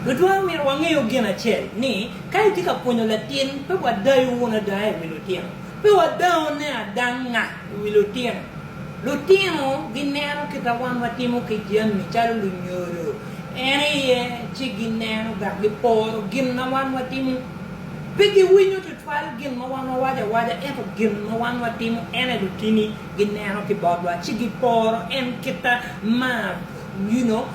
Lutwal myero wangeyo gin acel ni, ka itye ka pwonyo latin, pe wadayo wunu adaya i wi lutino. Pe wadao ne adanga i wi lutino. Lutino gineno kita wan watimo ki jami calo lunyodo en iye ci gineno dok giporo gin ma wan watimo. Pe giwinyo tutwal gin ma wan wawaco awaca ento gin ma wan watimo ene lutini gineno ki botwa ci giporo en kita ma Nino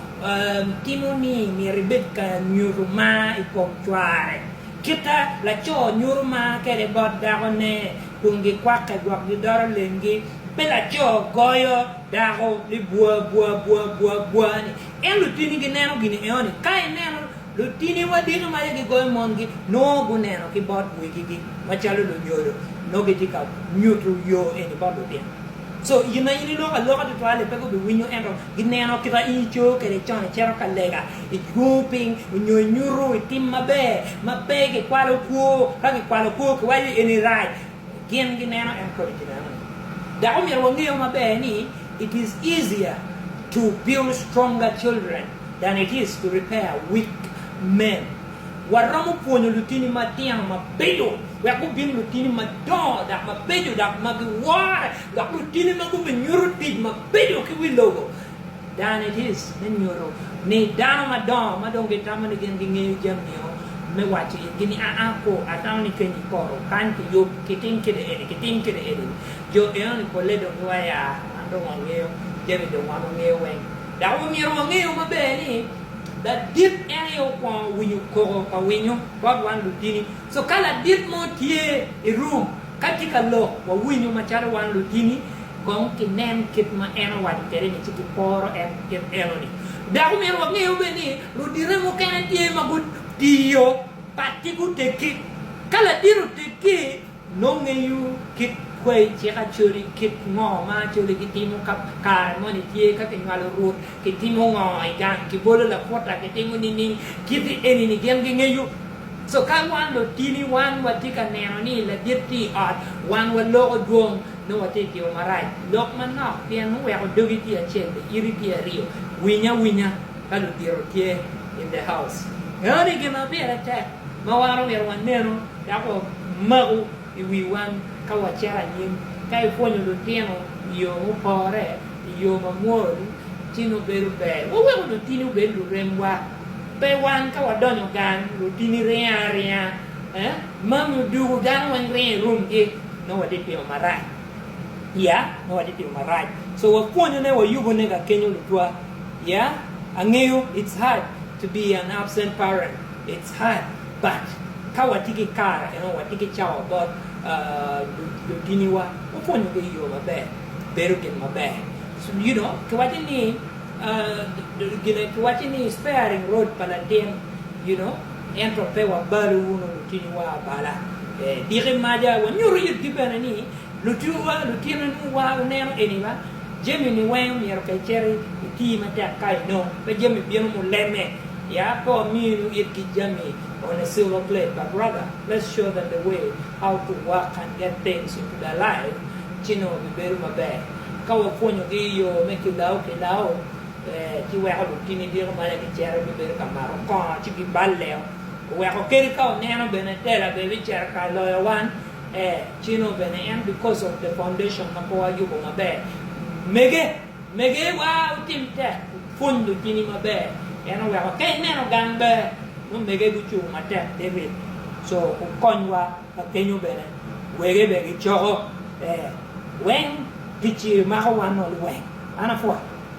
timo ni myero ibed ka nyuto mar i kom cware. Kite, laco nyuto mar kwede bot dakone kun gikwakke gwok gidoro lengi. Pe laco goyo dako ni bwa bwa bwa bwa bwa ni. En lutini gineno gin eo ni. Ka ineno lutini wadito ma aye gigoyo mongi, nongo guneno ki bot wegigi macalo lunyodo, nongo gitye ka nyuto yo eni bot lutino. Co i ma in iloko aloka tutwal-li pe gubiwinyo, ento gineno kit ma in icoyo kwede con, icito ka lega, igungo piny, nyo inyuto i tim maber ma pe kikwalo kwo. Ka kikwalo kwo, kiwaco ni eni rac. Gin gineno, en kodi kineno. Dok omyero wangeyo maber ni it is easier to build stronger children than it is to repair weak men. Waromo pwonyo lutini matino mabeco wek gubin lutini madongo dok mabeco dok ma giwore dok lutini ma gubinyuto tic mabeco ki wi lobo. Dan it is me nyuto ni dano madongo ma dong gitamo ni gin gingeyo jamio me waco itgi ni aa ko atamo ni keny i poto kany pi yub kitim kede eni kitim kede eni jo enoni pole dong giwaya man dong wangeyo jami dong wan wangeyo weng dok wamyero wangeyo maber ni Ladit en aye okwongo winyo koko pa winyo bot wan lutini. So ka ladit mo tye i room ka tye ka lok wawinyo macalo wan lutini kong kinen kit ma en owaco kwede ni ci kiporo en kit enoni. Dok omyero wange bene ni ludite mukene tye ma gutiyo pat ci guteggi. Ka ladit oteggi Nongo ngeyo kit kwayi cik Acholi kit ngo ma Acholi gitimo ka kare moni tye ka kinywalo Rwot kitimo ngo i gang kibolo laputa kitimo nining kiti enini gin gingeyo so ka wan lotini wan watye ka neno ni ladit tye i ot wan waloko dwong nongo watye ka timo marac lok manok pien muweko dogi tye acel be iti tye aryo winy awinya ka ludito tye in the house. Enoni gin ma pire tek ma wan omito wanenu. Dok omaku i wi wan ka wacito anyim. Ka ipwonyo lutino i yo mupore, i yo mamwol, ci nongo bedo ber. Waweko lutini obed luremwa. Pe wan ka wadonyo gang, lutini ringo aringa. Mami odwogo dano weng ringo i rumgi. Nongo watye timo marac. Ya, nongo watye timo marac. So wapwonyone, wayubone ka kenyo lutwa. Ya, angeyo it's hard to be an absent parent. Cat, Bac, Ka watye ki kare eno, watye ki cawa bot lutiniwa, wapwonyogi i yo maber, bedo gin maber. You know, kiwaco ni, gine, kiwaco ni sparing rod pa latin, you know, ento pe wabalo wunu lutiniwa abala. Diki maja, wanyuto yitgi bene ni lutiniwa, lutinwa nongo wa, wuneno eni ba. Jamini weng myero ka icito iti matek ka inong pe jami bino muleme ya pe waminu itgi jami on a silver plate but rather let's show them the way how to work and get things into their life ci nongo bibedo maber ka wapwonyogi yo me kilawo kilawo ci weko lutini bino malo ci gicito gibedo ka mato kongo ci giballeo weko kadi ka oneno bene tela bene bicito ka loyo wan. Ceno bene en because of the foundation ma pe wayubo maber. Mege, mege wa wutim tek wupwony lutini maber pien oweko ka ineno gang ber nongo mege gucung matek te rit so wukony wa ka kenyo bene wege bene gicoko ee weng gici mako wa nol weng an apwot.